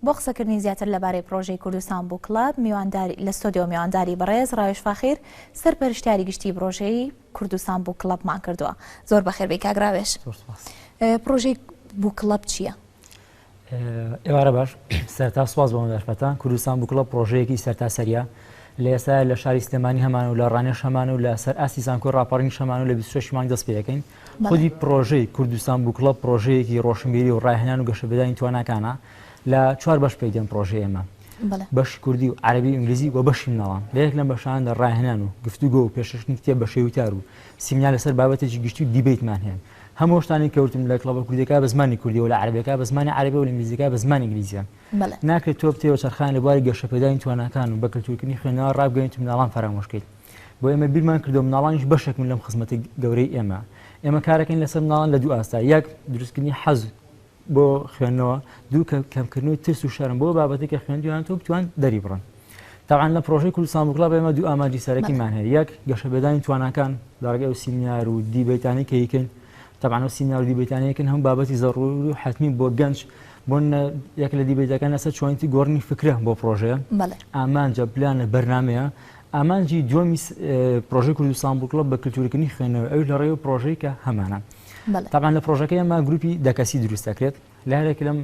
بۆ قسەکردنی زیاتر لەبارەی پڕۆژەی کوردستان بووک کڵەب، میوانداری لە ستۆدیۆ میوانداری بەڕێز ڕاوێژ فاخیر سەرپەرشتیاری گشتی پڕۆژەی کوردستان بووک کڵەبمان کردووە. زۆر بەخێربێی کاک ڕاوێژ. زۆر سوپاس. پڕۆژەی بووک کڵەب چییە؟ ئێوارە باش سەرتا سواز بۆ مەداشپەتان کوردستان بکڵە پرۆژەیەکی سەرتاسەریە لە ئێستا لە شاری سلێمانی هەمان و لە ڕانێش هەمان و لە سەر ئاسی زانکۆی ڕاپەڕین شەمان و لە 26 مانگ دەست پێەکەین خودی پڕۆژەی کوردستان بووکڵەب پڕۆژەیەکی ڕۆشنبیری و ڕاهێنان و گەشەپێدانی تواناکانە لە چوار بەش پێک دێن پڕۆژەی ئێمە بەشی کوردی و عەرەبی و ئینگلیزی و بەشی مناڵان لە یەک لەم بەشاندا ڕاهێنان و گفتوگۆ و پێشکەشکردنی کتێب بە شێوەی وتار و سیمینار لەسەر بابەتێکی گشتی و دیبەیتمان هەیە هەموو شتانی کەوتن لە کڵەبە کوردیەکە بە زمانی کوردیەوە لە عەرەبیەکە بە زمانی عەرەبی و لە ئینگلیزیەکە بە زمانی ئینگلیزیە ناکرێت تۆ بتێوە چرخان لە بواری گەشەپێدانی تواناکان و بە کلتورکردنی خوێنەوە ڕابگەیت و مناڵان فەرامۆش بکەیت بۆ ئێمە بیرمان کردو مناڵانیش بەشێکن لەم خزمەتی گەورەی ئێمە ئێمە کارەکەین لەسەر مناڵان لە دوو ئاستا یەک دروستکردنی حەز بۆ خوێندنەوە دوو کە کەمکردنەوەی ترس و شەرم بۆ بابەتی کە خوێندویان تۆ بتوان دەری بڕن تاعاان لە پرۆژەی کوردستان بگڵا بە ئێمە دوو ئاماجی سەرەکیمان هەیە یەک گەشەبێدانی تواناکان داڕگە و سیمینار و دیبیتانی کەیکن تەبان و سیمینار و دیبیتانەکن هەم بابەتی زەڕور و حتمی بۆ گەنج بۆ یەک لە دیبیتەکان لەسەر چۆنیتی گۆڕنی فکرە بۆ پرۆژەیە ئامانجە پلانە بەرنمەیە ئامانجی دووەمی پرۆژەی کوردستان بووک کڵەب بە کلتورکردنی خوێندنەوەی ئەوش لە ڕێی و پرۆژەی کە هەمانە تاقان لە پرۆژەکەی ئەمە گروپی دەکەسی دروست دەکرێت لە هەرێک لەم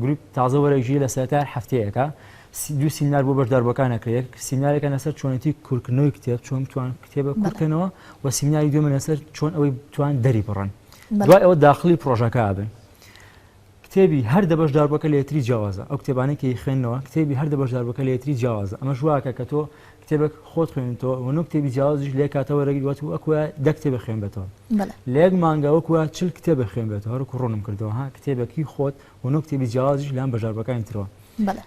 گروپ تازە وەرەژی لە سەرتار هەفتەیەەکە دو سیمنار بۆ بەشداربەکان نەکرێت سیمنارێکە لەسەر چۆنێتی کورکردنەوەی کتێب چۆن توان کتێبە کورکەنەوە و سیمناری دوێمە لەسەر چۆن ئەوەی توان دەری بڕن دوای ئەوە داخلی پرۆژەکە بن کتێبی هەر دە بەشداربووەکە لە یەکتری جیاوازە، ئەو کتێبانەی کە ئەیخوێننەوە کتێبی هەر دە بەشداربووەکە لە یەکتری جیاوازە، ئەمەش وا ئەکات کە تۆ کتێبێک خۆت خوێنیتەوە و نۆ کتێبی جیاوازیش لێ کاتەوە رێگری وات و وەکوایە دە کتێب بخوێنبێتەوە لە یەک مانگە وەکوە چل کتێب بخوێنبێتەوە هەر وەکو روونم کردەوە ها کتێبێک هی خۆت و نۆ کتێبی جیاوازیش لەلایەن بەشداربووەکانی ترەوە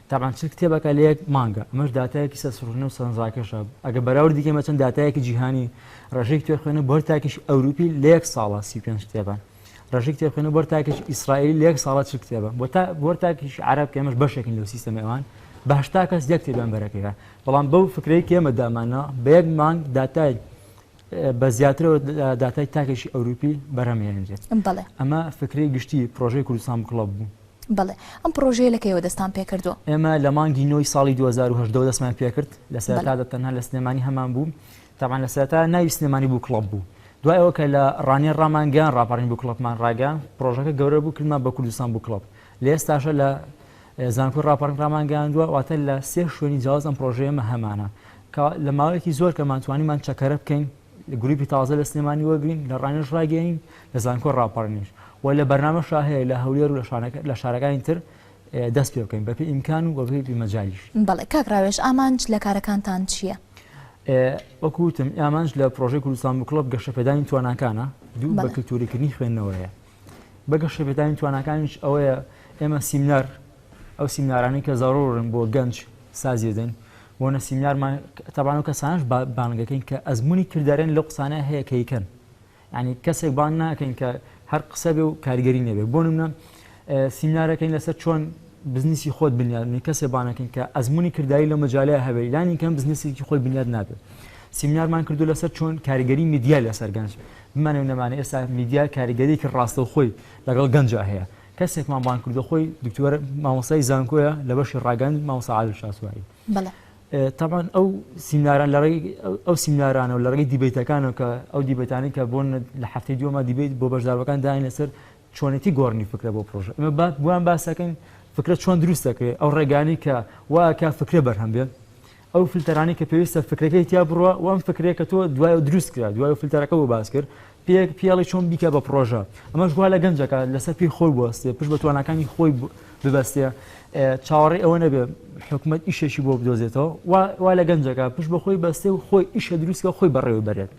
تەبعەن چل کتێبەکە لە یەک مانگە ئەمەش داتایەکی سەرسوڕهێنەر و سەرنجڕاکێشە ئەگەر بەراوردی بکەین بە چەند داتایەکی جیهانی رێژەی کتێبخوێنەر بۆ هەر تاکێکی ئەوروپی لە یەک ساڵا سی و پێنج کتێبە ڕژی کتێبخێن و بەر تاکیش ئیسرائیل لەک ساڵە چ کتێبە بۆ تا بۆر تاکیش عرب کەمەش بەشێکن لەو سیستەم ئەوان باشتا کەس یەک کتێبیان بەرەکەیە بەڵام بەو فکرەی کێمە دامانە بە یەک مانگ داتای بە زیاترەوە داتای تاکێکی ئەوروپی بەرهەمهێنرێت ئەمە فکری گشتی پرۆژەی کوردستان کڵب بوو بڵێ ئەم پرۆژەیە لەکەیەوە دەستان پێکردووە ئێمە لە مانگی نۆی ساڵی 2010 دەستمان پێکرد لە سەرتادا تەنها لە سلێمانی هەمان بوو تەبعەن لە سەرەتا ناوی سلێمانی بوو کڵەب بوو دوای ئەوە کە لە ڕانیە ڕامان گەیان ڕاپەڕین بوو کڵەپمان ڕاگەیان پڕۆژەکە گەورە بوو کلمان بە کوردستان بوو کڵەپ لە ئێستاشە لە زانکۆی ڕاپەڕین ڕامان گەیاندووە واتە لە سێ شوێنی جیاواز ئەم پڕۆژەیەمە هەمانە لە ماوەیەکی زۆر کە مانتوانیمان چەکەرە بکەین گروپی تازە لە سلێمانی وەگرین لە ڕانێش ڕاگەین لە زانکۆ ڕاپەڕنیش و لە بەرنامە شاهەیە لە هەولێر و لە شارەکانی تر دەست پێ بکەین بەپێی ئیمکان و بەپێی مەجالیش. بەڵێ کاک ڕاوێژ ئامانج لە کارەکانتان چییە؟ وەکو وتم ئامانج لە پرۆژەی کوردستان بوو کڵەب گەشەپێدانی تواناکانە دوو بە کلتوریکردنی خوێندنەوەیە بە گەشەپێدانی تواناکانیش ئەوەیە ئێمە سیمنار ئەو سیمنارانی کە زارۆرن بۆ گەنج سازیدن بۆنە سیمنارمان تەبان و کەسانش بانگەکەین کە ئەزمموی کردارێن لە قسانە هەیە کەیکەن یانی کەسێک بانگ ناکەین کە هەر قسە بێ و کاریگەری نەبێ بۆ نمونە سیمینارەکەین لەسەر چۆن بزنسی خۆت بنیاد نی کەسێ بانەکەین کە ئەزمموی کردایی لە مەجاالای هەبێ لانی کەم بزنسێکی خۆی بنیاد نابێت سیمینارمان کردو لەسەر چۆن کاریگەری میدیا لەسەر گەنج بمانێ نەمانە ئێستا میدیا کاریگەریکی ڕاستە و خۆی لەگەڵ گەنج هەیە کەسێکمان بان کردو خۆی دکتۆر مامۆسای زانکۆیە لە بەشی ڕاگەند مامۆسا عادل شاسواری تەبعەن ئەو سیمناران لە ڕێگەی ئەو سیمنارانەوە لە ڕێگەی دیبەیتەکانەوە کە ئەو دیبەیتانەی کە بۆن لە هەفتەی دووەما دیبەیت بۆ بەشداربەکان داین لەسەر چۆنێتی گۆڕنی فکرە بۆ پرۆژە ئەمە با بوان باسەکەین فکرە چۆن دروست دەکرێت ئەو ڕێگانی کە واکە فکرە بەرهەم بێت ئەو فلتەرانی کە پێویستە فکرەکەی تیا بڕە و ئەم فکرێکە تۆ دوای دروست کرا دوای فلتەرەکە بۆ باس کرد پێک پێڵی چۆن بیکە بە پڕۆژە ئەمەش گوها لە گەنجەکە لەسەر پێی خۆی بوەستێ پشت بە توانەکانی خۆی ببەستێ چاوەڕێ ئەوە نەبێ حکوومەت ئیشێکی بۆ بدۆزێتەوە وا لە گەنجەکە پشت بە خۆی بەستێ و خۆی ئیشە دروستکە خۆی بەڕێوە بەرێت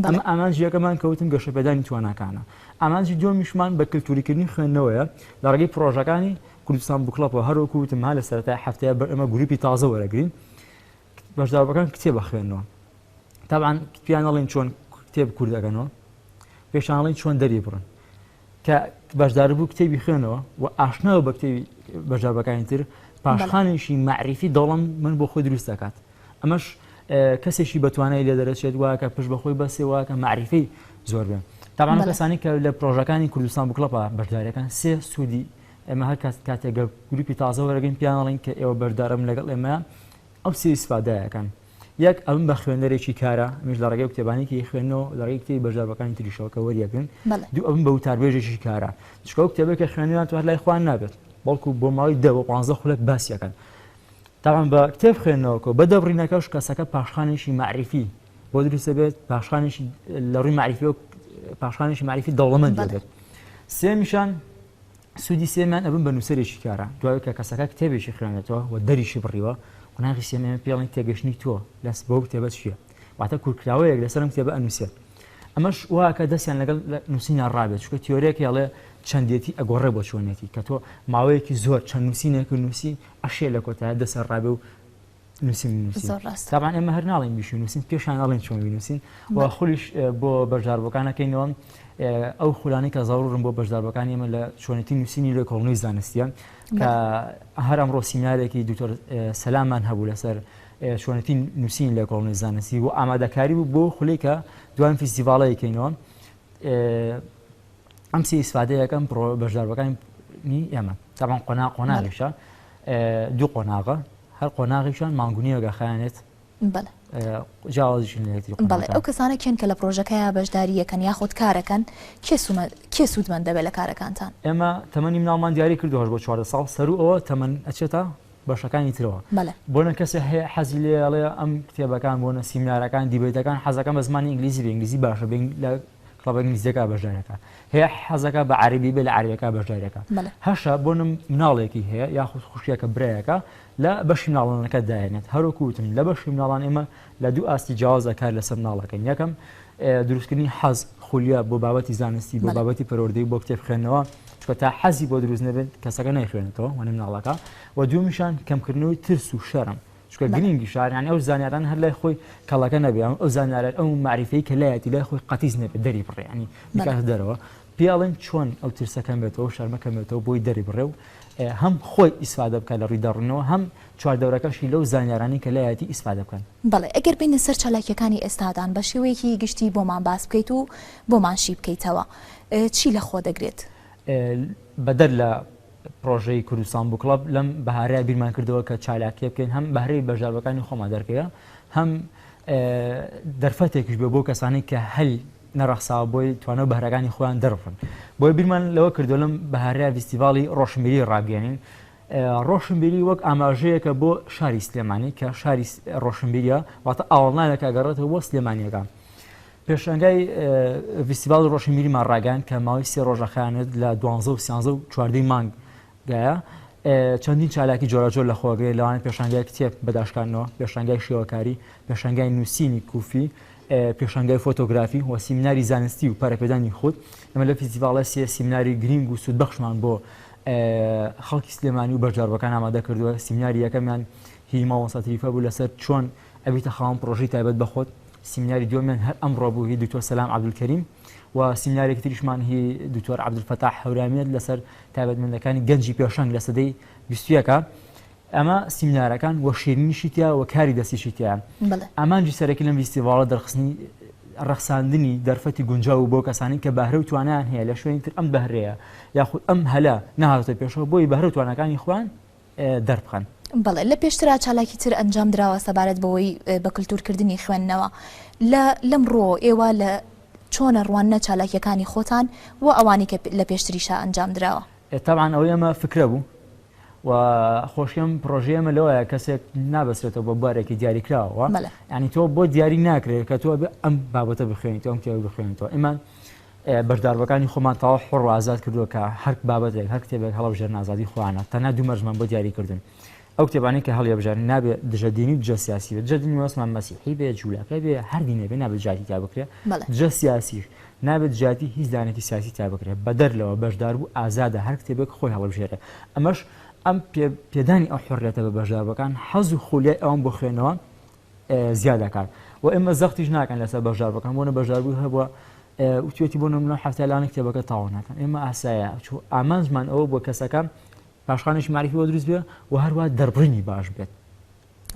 ئەمە ئامانجیەکەمان کەوتن گەشەپێدانی توانەکانە ئامانجی دومیشمان بە کللتوریکردنی خوێندنەوەیە لە ڕێگەی پرۆژەکانی کوردستان بکڵەپەوە هەروکوتمها لە سەرای هەفتەیە بەر ئەمە گروپی تازە وەرەگرین بەشداربووەکان کتێب ئەخوێننەوە تابان پیان ئەڵین چۆن کتێب کورد ئەگەنەوە پێشانڵین چۆن دەری بڕن کە بەشدار بوو کتێبی خوێنەوە و ئاشناوە بە کتێبی بەشداربەکانی تر پاشخانێکی معریفی دەڵم من بۆ خۆی دروست دەکات ئەمەش کەسێکی بەتوانای لێ دەرەچێت واکە پشت بەخۆی بەسێەوە کە معریفی زۆر بێن تاوان کەسانی کە لە پرۆژەکانی کوردستان بکڵپە بەشدارەکان سێ سوودی ئێمە هەر کات کاتێک گە گروپی تازە وەرەگەن پیان ئەڵێن کە ئێوە بەردەرم لەگەڵ ئێمە ئەو سێ ئیسفادایەکەن یەک ئەم بە خوێنەرێکی کارە ئەمیش لە ڕێگەی کتێبانێکی خوێنەوە لە ڕێگەی کتێبی بەشداربەکانی تریشەوە کە وەریەگرن بەڵێ دوو ئەم بە وتاربێژێکی کارە چکە ئەو کتێبێک کە خوێنەوەیان توار لای خوان نابێت بەڵکو بۆ ماوەی دە بۆ پانزە خولەک باسیەکەن تاوان بە کتێب خوێندنەوەکە و بە دەبڕینەکەش کەسەکە پاشخانێکی معریفی بۆ دروستە بێت پاشخانێکی لە ڕووی معریفی و پاشخانێکی معریفی دەوڵەمەند بەڵێ دەبێت سێمیشان سوودی سێمیان ئەبن بە نووسەرێکی کارا دوای کە کەسەکە کتێبێکی خوێنێتەوە و دەریشی بڕیوە قۆناغی سێم ئێمە پێڵین تێگەشتنی تۆ لەس بەو کتێبە چییە واتە کورکراوەیەک لەسەر ئەم کتێبە ئەنووسێت ئەمەش واکە دەستیان لەگەڵ نووسینە ڕابێت چکە تیۆرێک هێڵێ چەندێتی ئەگۆڕێ بۆ چۆنێتی کە تۆ ماوەیەکی زۆر چەند نووسینێک نووسی ئەشێ لە کۆتایە دەسەر ڕابێ و نووسین بنووسین زۆر ڕاستە. تابان ئێمە هەر ناڵێن بیشوی نووسین پێشان ئەڵێن چۆن بنووسین و بە- خولیش اه، بۆ بەشداربووەکانەکەینەوە اه، ئەو خولانەی کە زاڕوڕن بۆ بەشداربەکانی ئێمە لە چۆنێتی نووسینی لە کۆڵنەی زانستیە کە هەر ئەمڕۆ سیمینارێکی دکتۆر اه، سەلاممان هەبوو لەسەر اه، چۆنێتی نووسین لە کۆڵنەی زانستی و ئامادەکاری بوو بۆ خولەی کە دوان فیستیڤاڵەیەکەینەوە اه، ئەم سی ئیسفادەیەکەم بەشداربەکانی ئێمە تاوان قۆنا قۆناغیشە دوو قۆناغە هەر قۆناغیشان مانگونیەوەگە خیانێت بەڵێ ئەو کەسانە کێن کە لە پرۆژەکەیە بەشداریەکەن یاخود کارەکەن کێ سوودمەند دەبێت لە کارەکانتان ئێمە تەمەنی مناڵمان دیاری کردوهش بۆ چوارە ساڵ سەرو ئەوە تەمەەن ئەچێتە بەشەکانی ترەوە بەڵێ. بۆنە کەسێ هەیە حەزی لێ ئەڵێ ئەم کتێبەکان بۆنە سیمینارەکان دیبەیتەکان حەزەکەم بە زمانی ئینگلیزی بێ ئینگلیزی باشە بێ ئینگ لە کڵەبە ئینگلیزیەکە بەشدارەکە هەیە حەزەکە بە عەرەبی بێ لە عەرەبیەکە بەشدارەکە بەڵێ. هەشە بۆنە مناڵێکی هەیە یاخود خوشکێکە برایەکە لە بەشی مناڵانەکە دایەنێت هەروەکو وتم لە بەشی مناڵان ئێمە لە دوو ئاستی جیاوازدا کار لەسەر مناڵ ئەکەین، یەکەم دروستکردنی حەز، خولیا، بۆ بابەتی زانستی، بۆ بابەتی پەروەردەی و بۆ کتێب خوێندنەوە، چونکە تا حەزی بۆ دروست نەبێت کەسەکە نایخوێنێتەوە وانی مناڵەکە و دووەمیشان کەمکردنەوەی ترس و شەرم، چونکە گرینگی شار یانی ئەو زانیارانە هەر لای خۆی کەڵەکە نەبێ، ئەو زانیارە ئەو مەعریفەی کە لایەتی لای خۆی قەتیس نەبێت دەریبڕێ یانی بیکاتە دەرەوە، پێی ئەڵێن چۆن ئەو ترسە کەمبێتەوەو شەرمە کەمبێتەوە بۆی دەریبڕێ و هەم خۆی ئیسفادە بکات لە ڕووی دەڕنەوە هەم چواردەورەکەشی لەو زانیارانەی کە لایەتی ئیسفادە بکەن. بەڵێ ئەگەر بێینە سەر چالاکیەکانی ئێستادان بە شێوەیەکی گشتی بۆمان باس بکەیت و بۆمان شی بکەیتەوە چی لە خۆ دەگرێت؟ بەدەر لە پڕۆژەی کوردستان بووک کڵەب لەم بەهارەیە بیرمان کردەوە کە چالاکیە بکەین هەم بەهرەی بەژاوەکانی خۆمان دەرکەوێ هەم دەرفەتێکش بێ بۆ کەسانی کە هەل نەڕەخساوە بۆی توانا و بەهرەکانی خۆیان دەربخەن بۆیە بیرمان لەوە کردووە لەم بەهارەیا ڤیستیڤاڵی ڕۆشنبیری ڕابگەیەنین ڕۆشنبیری وەک ئاماژەیەکە بۆ شاری سلێمانی کە شاری ڕۆشنبیریە واتە ئاوەڵناوێکە گەڕێتەوە بۆ سلێمانیەکان پێشنگای ڤیستیڤاڵی ڕۆشنبیریمان ڕاگەیان کە ماوەی سێ ڕۆژە خیانەت لە دوانزە و سیانزە و چواردەی مانگ دایە، چەندین چالاکی جۆراوجۆر لە خۆگرێ، لەوانە پێشانگای کتێب بە داشکاندنەوە، پێشانگای شێوەکاری، پێشانگای نووسینی کوفی، پێشانگای فۆتۆگرافی و سیمیناری زانستی و پەرەپێدانی خود. ئێمە لەو فیستیڤاڵە سێ سیمیناری گرینگ و سوودبەخشمان بۆ خەڵکی سلێمانی و بەشداربووەکان ئامادە کردووە. سیمیناری یەکەمیان هی مامۆستا تریفە بوو لەسەر چۆن ئەبیتە خاوەن پڕۆژەی تایبەت بە خۆت. سیمیناری دووەمیان هەر ئەمڕۆ بوو هی دکتۆر سەلام عەبدولکەریم و سیمینارێکی تریشمان هی دکتۆر عەبدولفەتاح هەورامییە لەسەر تایبەتمەندەکانی گەنجی پێشەنگ لە سەدەی بیستویەکە ئەمە سیمینارەکان وە شیرینیشی تیا وە کاری دەستیشی تیا ئامانجی سەرەکی لەم ویستیڤاڵە دەرخستنی ڕەخساندنی دەرفەتی گونجاو و بۆ کەسانی کە بەهرە و توانیان هەیە لە شوێنی تر ئەم بەهرەیە یاخود ئەم هەلە نهاتە پێشەوە بۆی بەهرە توانەکانی خوان دەربخەن. بەڵێ لە پێشترا چالاکی تر ئەنجام دراوە سەبارەت بەوەی بە کلتور کردنی خوێندنەوە لە لەم ڕۆ ئێوە لە چۆنە ڕوانە چالاکیەکانی خۆتان و ئەوانی کە لە پێشتریشا ئەنجام دراوە تاوان ئەو ئێمە فکرە بوو و خۆشیەم پرۆژەیەمە لەوەیە کەسێک نابەسێتەوە بە بارێکی دیاریکراوە ینی تۆ بۆ دیاری ناکرێت کە تۆ ئەم بابەتە بخوێنیت ئەم کێ بخوێنیتەوە ئەمان بەشداربووەکانی خۆمان تەواو حۆڕ و ئازاد کردووە کە هەر بابەتێک، هەر کتێبێک هەڵەبژێرن ئازادی خۆیانە، تەنها دوو مەرجمان بۆ دیاری کردوون ئەو کتێبانەی کە هەڵیەبژێرن نابێ دژە دینی و دژە سیاسی بێت، دژە دینی مەبەستمان مەسیحی بێت، جوولەکە بێت، هەر دینێک بێت نابێ دژایەتی تیا بکرێت، دژە سیاسیش نابێ دژایەتی هیچ لایەنێکی سیاسی تیا بکرێت، بەدەر لەوە بەشداربوو ئازادە هەر کتێبێک خۆی هەڵبژێرێت، ئەمەش ئەم پێدانی ئەو حۆڕیەتە بە بەشداربووەکان حەز و خولیای ئەوان بۆ خوێندنەوە زیا دەکات و ئێمە زەختیش ناکەن لەسەر بەشدار بەکەم بۆنە بەشداربوو هەبووە وتێتی بۆ نمونە حفتە لاانە کتێبەکە تاوا ناکەن ئێمە ئاسایە چوو ئامانجمان ئەوە بۆ کەسەکان پاشخانێکی معریفی بۆ دروست بێ و هەروە دەربڕینی باش بێت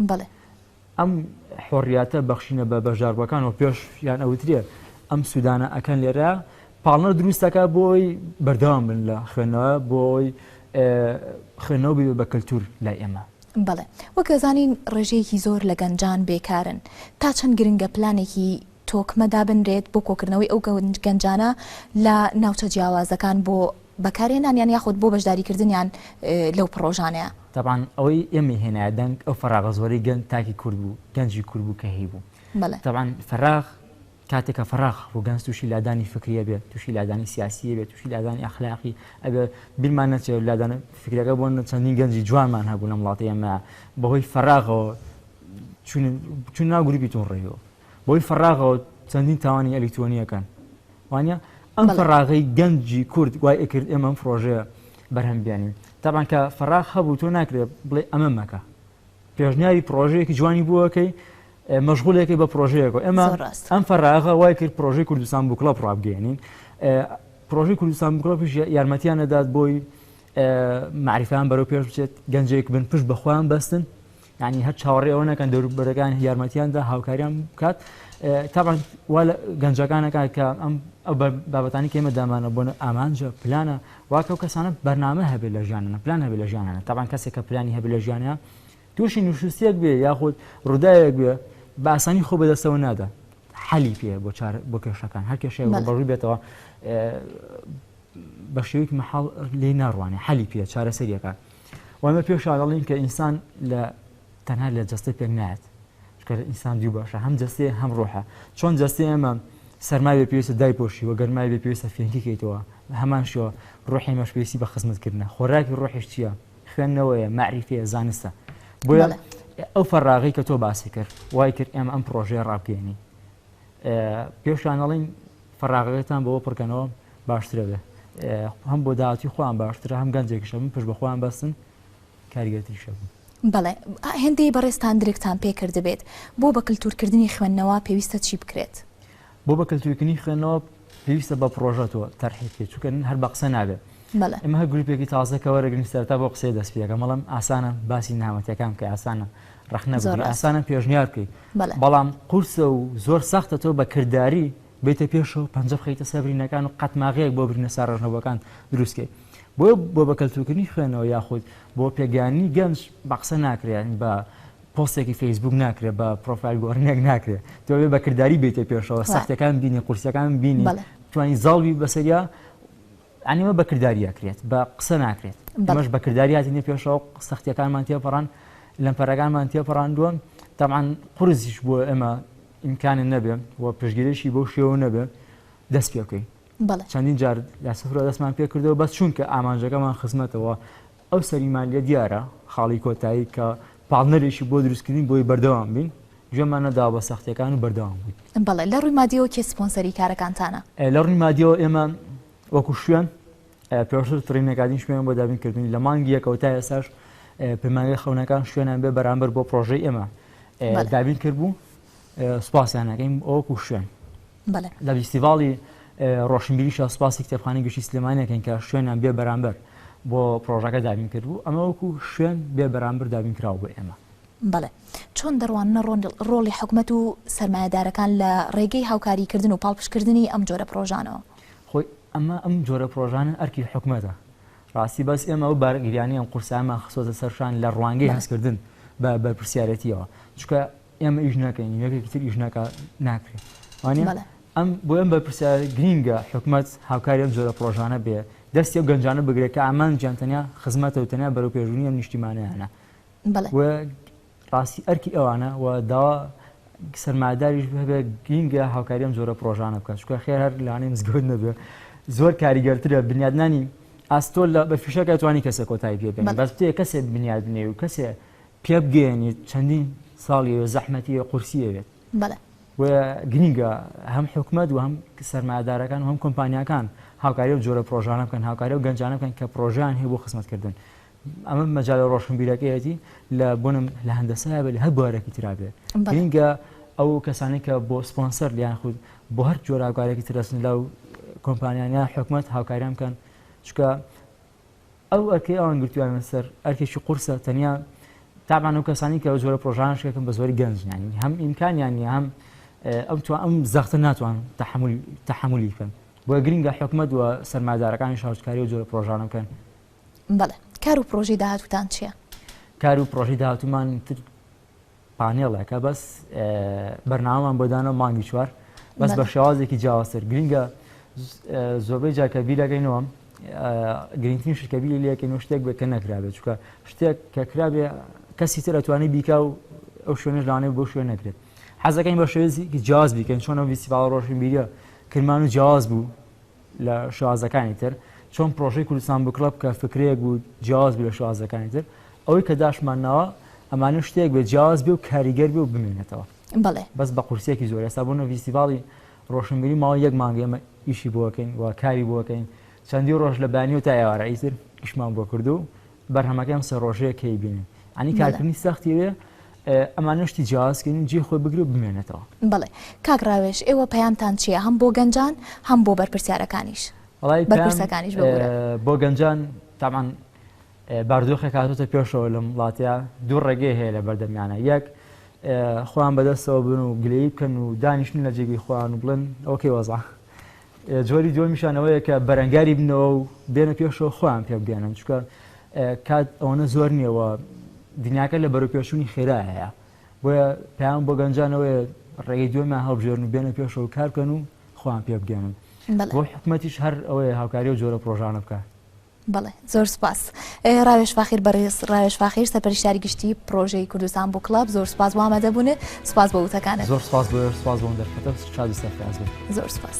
بڵێ ئەم حۆڕیاتە بەخشینە بە بەشداربەکان و پێش یان ئەوترێ ئەم سوودانە ئەکەن لێرە پاڵنەر دروستەکە بۆی بەردەوام بن لە خوێندنەوە بۆی خوێندنەوە بێ بە کەلتور لای ئێمە بەڵێ وەک دەزانین ڕێژەیەکی زۆر لە گەنجان بێکارن، تا چەند گرنگە پلانێکی تۆکمە دابنرێت بۆ کۆکردنەوەی ئەو گەنجانە لە ناوچە جیاوازەکان بۆ بەکارهێنانیان یاخود بۆ بەشداریکردنیان لەو پڕۆژانەیا. تەبعەن ئەوەی ئێمەی هێنایە دەنگ ئەو فەراغە زۆرەی گەنج تاکی کورد بوو، گەنجی کورد بوو کە هەیبوو. بەڵێ. تەبعەن فەراغ. کاتێک کە فەراغ ڕوگەنز تووشی لادانی فکری ئەبێ، تووشی لادانی سیاسی ئەبێ، تووشی لادانی ئەخلاقی ئەبێ، بیرمان نەچێ لادان فکریەکە بۆ چەندین گەنجی جوانمان هەبوو لەم وڵاتەی ئێمە بەهۆی فەراغەوە چوون چوون ناو گروپی تون ڕێیەوە بۆی فەراغەوە چەندین تاوانی ئەلیکترۆنیەکان وانە ئەم فەراغی گەنجی کورد وای ئەکرد ئێمەم پرۆژەیە بەرهەم بیانین تاوان کە فەراغ هەبوو تۆ ناکرێت بڵێ ئەمە مەکە پێشنیاری پرۆژەیەکی جوانی بووەکەی مەشغولێکە بە پرۆژەیەکەوە ئێمە زۆر ڕاستە. ئەم فەراغە وای کرد پرۆژەی کوردستان بوو کڵەپ ڕابگەیەنین ئێ، پرۆژەی کوردستان کڵەپیش یا- یارمەتیان نەدات بۆی ئێ، مەعریفەیان بەرەو پێش بچێت گەنجێک بن پشت بە خۆیان بەستن یانی هەر چاوەڕێی ئەوە نەکەن دەوروبەرەکان یارمەتیان دا هاوکاریان بکات ئێ، تەبعەن وا لە گەنجەکانەکە کە ئەم ئەو بە- بابەتانەی کە ئێمە دامانە بۆنە ئامانجە پلانە واکە ئەو کەسانە بەرنامە هەبێت لە ژیانیانە پلان هەبێت لە ژیانیانە تەبعەن کەسێک کە پلانی هەبێت لە ژیانیان تووشی نوشوستیەک بێ یاخود ڕوداوێک بێ بە ئاسانی خۆ بەدەستەوە نادا حەلی پێ بۆ چار بۆ کێشەکان هەر کێشێ بەڕووی بێتەوە بە شێویک مەحاڵ لێ ناڕوانێ حەلی پێ چارەسەریەکە وەمە پێشاگەڵین کە ئینسان لە تەنها لە جەستە پێک نایەت چکە ئینسان دوو باشە هەم جەستێ هەم ڕۆحە چۆن جەستی ئێمە سەرماوی پێویستە دای پۆشی و گەرمای بێ پێویستە فێنکیکەیتەوە هەمان شوە ڕۆحی مەشپێسی بە خزمەتکردە خۆراکی ڕۆحیش چییە خوێندنەوەیە، مەعریفیە، زانستە. بۆیە ئەو فەراغەی کە تۆ باسی کرد وای کرد ئێمە ئەم پرۆژەیە ڕابگەێنین. پێشان ئەڵین فەراغەکەتان بەوە پڕکەنەوە باشترە بێ. هەم بۆ داهاتی خۆیان باشترە هەم گەنجێکیشە من پشت بەخۆیان بەستن کاریگەتریشە بوو. بەڵێ هێندەی بەڕێزتان درکتان پێکردبێت بۆ بە کللتورکردنی خوێندنەوە پێویستە چی بکرێت؟ بۆ بە کەلتوریکنی خوێندنەوە پێویستە بە پرۆژە تۆ تەرحی بکەیت چونکە هەر بە قسە نابێت بەڵێ ئێمە هەر گروپێکی تازە کە وەرەگرین سەرتا بۆ قسەی دەست پێەکەم بەڵام ئاسانە باسی نامەتەکان کە ئاسانە ڕخنە زۆر بگری ڕاست. ئاسانە پێشنیار بکەیت بەڵێ بەڵام قورسە و زۆر سەختە تۆ بە کردداری بیتە پێشەوە پەنجە بخەیتە سەر برینەکان و قەتماغەیەک بۆ برینە ساڕژنەوەکان دروستکەیت بۆ بۆ بە کەلتوکردنی خوێنەوە یاخود بۆ پێگەیاندنی گەنج بە قسە ناکرێن بە پۆستێکی فەیسبووک ناکرێ بە پڕۆفایل گۆڕینێک ناکرێ تۆ بێ بە کرداری بێتە پێشەوە سەختەکان بینی قورسەکان بینی توانی زاڵبی بەسەریا ئەنیمە بە کردداری ئەکرێت بە قسە ناکرێت بەمەش بە کردداریاتی نە پێشەوە سەختەکانمان تێپەڕان لەم پەرەکانمان تێپەڕاندووە تاان قرسیش بۆ ئێمە ئیمکانە نەبێ و پشگیرێکی بۆ شێوە نەبێ دەست پێکەین چەندین جار لە سفرۆ دەستمان پێ کردەوە بەس چونکە ئامانجەکەمان خزمەتەوە ئەو سەریمان لێ دیارە خاڵی کۆتایی کە پاڵنەرێکی بۆ دروستکردین بۆی بەردەوام بین، گوێمان نەداوە بە سەختییەکان و بەردەوام بووین. بەڵێ، لە ڕووی مادییەوە کێ سپۆنسەری کارەکانتانە؟ لە ڕووی مادییەوە ئێمە وەکو شوێن پێشتر تڕینەکاتین شوێنمان بۆ دابین کردووین، لە مانگی یەکەوە تا ئێستاش پەیمانگای خەونەکان شوێنیان بێ بەرامبەر بۆ پڕۆژەی ئێمە دابین کردبوو، سوپاسیان ئەکەین وەکو شوێن. بەڵێ. لە ڤیستیڤاڵی ڕۆشنبیریشا سوپاسی کتێبخانەی گشتی سلێمانی ئەکەین کە شوێنیان بێ بەرامبەر بۆ پرۆژەکە دابین کردبوو، ئەمە وەکو شوێن بێ بەرامبەر دابین کراوە بۆ ئێمە. بەڵێ. چۆن دەڕواننە ڕۆڵی حکومەت و سەرمایەدارەکان لە ڕێگەی هاوکاریکردن و پاڵپشکردنی ئەم جۆرە پرۆژانەوە؟ خۆی ئەمە ئەم جۆرە پرۆژانە ئەرکی حکومەتە ڕاستی بەس ئێمە ئەو بارگریانەی ئەم قورسایەمان خستۆتە سەرشان لە ڕوانگەی هەستکردن بە بەرپرسیارێتیەوە چونکە ئێمە ئیش ناکەین یەکێکی تر ئیش ناکا ناکرێت وانە بەڵێ ئەم بۆ ئەم بەرپرسیارە گرینگە حکومت هاوکاری ئەم جۆرە پرۆژانە بێ دەستی و گەنجانە بگرێت کە ئامان جیانتەنیا خزمەتە و تەنیا بەرەو پێشبوونی ئەم نیشتیمانیانە بەڵێ و ڕاستی ئەرکی ئەوانە و داوا سەرماداریش هەبێ گرینگە هاوکاری ئەم جۆرە پرۆژانە بکات چکە خێر هەر لانەی مزگەوت نەبێ زۆر کاریگەرترە بنیادنانی ئاستۆل لە بە فیشەکە توانی کەسێک کۆتایی پێ بێنێ بەڵێ بەس تێ کەسێ بنیاد بنێ و کەسێ پێبگەیەنێت چەندین ساڵی وێ زەحمەتی وێ قورسیە بێت گرینگە هەم حکومت و هەم سەرمادارەکان و هەم کۆمپانیەکان هاوکاری و جۆرە پرۆژانە بکەن هاوکاری و گەنجانە بکەن کە پرۆژیان هەیە بۆ خزمەتکردن ئەمە مەجای ڕۆشنبیرەکەیەتی لە بۆنم لە هەندەسای بێت لە هەر بوارێکی ترابێت گرینگە ئەو کەسانی کە بۆ سپۆنسەر لیان خود بۆ هەر جۆراکارێکی ترەسن لەو کۆمپانیانە حکومت هاوکاریان بکەن چکە ئەو ئەرکەی ئەوان گرتویانە سەر ئەرکێکی قورسە تەنیا تابان ئەو کەسانی کە زۆرە پرۆژانش کەکەم بە زۆری گەنجنیانی هەم ئیمکانیانی هەم ئەم تو ئەم زەختە ناتوان تحملی بکەن بۆ گرنگە حکومت و سەرمادارەکانی شارچکاری و زۆرە پرۆژانە بکەن بەڵێ کار و پرۆژەی داهاتوتان چییە؟ کار و پرۆژەی داهاتومان تر پانێڵێکە بەس بەرنامەمان بۆ دانەوە مانگی چوار بەس بە شێوازێکی جیاوازتر گرنگە زۆربەی جاکە بیرەکەینەوە گرنگترین شکەبی لەکەین و شتێک بکە نەکرابێت چکە شتێک کە کرابێ کەسی تر ئەتوانی بیکا و ئەو شوێنش لانێ بۆ شوێن نەکرێت حەزەکەین بە شێزی جیاز بیکەین چۆنە ویسیباڵ ڕۆشنبیریە کرمان و جیاز بوو لە شازەکانی تر چۆن پرۆژەی کوردستان بوو کڵب کە فکرەیەک بوو جیاواز بوو لە شازەکانی تر ئەوەی کە داشمان ناوە ئەمانە شتێک بێ جیاواز بێ و کاریگەر بێ و بمێنێتەوە بەڵێ بەس بە قورسێکی زۆر ئێستا بوون ڤیستیڤاڵی ڕۆشنبیری ماوە یەک مانگە ئێمە ئیشی بۆکەین و کاری بۆکەین چەندی ڕۆژ لە بانی و تا ئێوارە ئیتر ئیشمان بۆ کردو بەرهەمەکەی ئەم سێ ڕۆژەیە کەی بینن ئەنی کارکردنی سەختی وێ ئەمانشتی جیازکردن جێ خۆی بگرێ و بمێنێتەوە بڵێ کاک ڕاوێش ئێوە پەیامتان چییە هەم بۆ گەنجان هەم بۆ بەرپرسیارەکانیش بەرپرسەکانیش بۆ گەنجان تامان باردۆخێک هاتوتە پێشەوە لەم وڵاتە دوو ڕێگەی هەیە لە بەردەمیانە یەک خۆیان بەدەستەوە بن و گلەی بکەن و دانیشتن لە جێگەی خۆیان و بڵێن ئەوکەی وەزا جۆری دووەمیشان ئەوەیە کە بەرەنگاری بنەوە و بێنە پێشەوە خۆیان پێ بگەنن چکە کات ئەوەنە زۆر نیەوە دنیاکە لە بەرەپێشووی خێرا هەیە بۆیە پێیان بۆ گەنجانەوەی ڕێگەی دوێمان هەڵبژێرن و بێنە پێشەوە کارکەن و خۆیان پێ بگەنن بۆ حکومەتیش هەر ئەوەیە هاوکاری و جۆرە پرۆژانە بکە بەڵێ زۆر سوپاس ڕاوێژ فاخیر بەڕێز ڕاوێژ فاخیر سەرپەرشتاری گشتی پرۆژەی کوردستان بۆ کلاب زۆر سوپاس وامەدە بوونێ سوپاس بە وتەکانت زۆر سوپاس بۆ سوپاس بۆم دەرفەتە شاد و سەرفراز بن زۆر سوپاس.